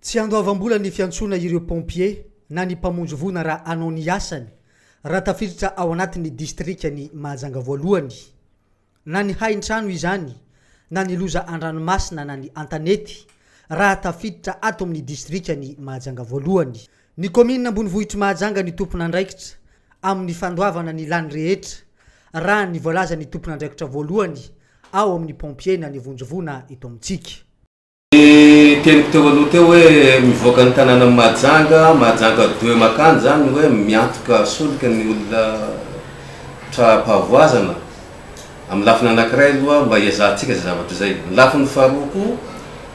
Tsy andoavam-bola ny fiantsoana ireo Pompier na ny mpamonjy voina raha hanao ny asany raha tafiditra ao anatin'ny Distrikan'i Mahajanga Voalohany. Na ny hain-trano izany, na ny loza an-dranomasina na ny an-tanety raha tafiditra ato amin'ny Distrikan'i Mahajanga Voalohany. Ny Kaominina Ambonivohitr'i Mahajanga ny tompon'andraikitra amin'ny fandoavana ny lany rehetra raha ny voalazan'ny tompon'andraikitra voalohany ao amin'ny Pompier na ny vonjy voina eto amintsika. Niteniko teo aloha teo hoe mivoaka ny tanànan'i Mahajanga, Mahajanga deux mankany izany hoe miantoka solika ny olona tra-pahavoazana. Amin'ny lafiny anankiray aloha mba hiezahantsika izay zavatra izay. Ny lafiny faharoa koa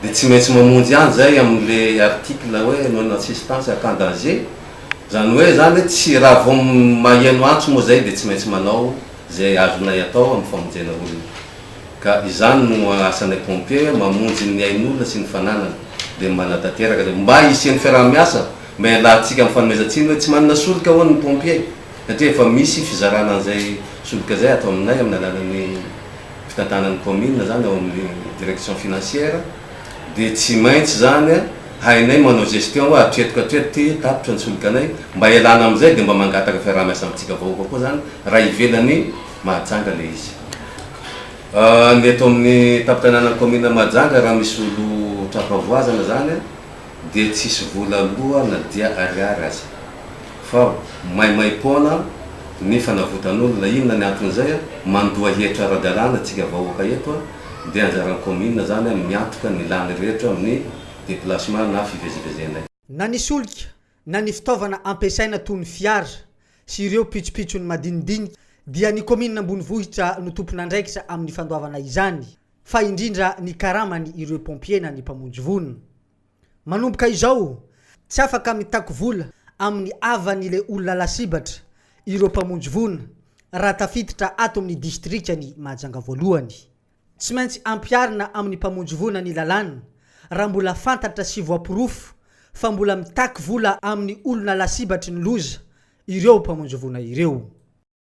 dia tsy maintsy mamonjy ihany izay amin'ilay article hoe non assistance à cas en danger. Izany hoe izany hoe tsy raha vao maheno antso moa izay dia tsy maintsy manao izay azonay atao amin'ny famonjena olona. ka izany no asan'ilay pompier mamonjy ny ain'olona sy ny fananany dia manatanteraka dia mba hisian'ny fiaraha-miasa mba hialantsika amin'ny fanomezan-tsiny hoe tsy manana solika hono ny pompier satria efa misy fizarana an'izay solika izay ato aminay amin'ny alalan'ny fitantanan'ny commune izany ao amin'ny direction financière dia tsy maintsy izany hainay manao gestion hoe hatreto ka hatreto ity tapitra ny solikanay mba hialana amin'izay dia mba mangataka fiaraha-miasa amintsika vahoaka koa izany raha ivelan'ny Mahajanga ilay izy. Ny eto amin'ny tampon-tanànan'ny kaominina Mahajanga, raha misy olon-trapavoazana izany dia tsisy vola aloa na dia ariary aza. Fa maimaim-poana ny fanavotan'olona. Inona ny anton'izay? Mandoa hetra ara-dalàna isika vahoaka eto dia anjaran'ny kaominina izany miantoka ny lany rehetra amin'ny déplacement na fivezivezenay. Na ny solika na ny fitaovana ampiasaina toy ny fiara sy ireo pitsopitsony madinidinika dia ny kaominina ambonivohitra no tompon'andraikitra amin'ny fandoavana izany fa indrindra ny karamany ireo pompier na ny mpamonjy voina. Manomboka izao tsy afaka mitaky vola amin'ny havany le olona lasibatra ireo mpamonjy voina raha tafiditra ato amin'ny distrikan'i Mahajanga voalohany. Tsy maintsy ampiharina amin'ny mpamonjy voina ny lalàna raha mbola fantatra sy voaporofo fa mbola mitaky vola amin'ny olona lasibatry ny loza ireo mpamonjy voina ireo.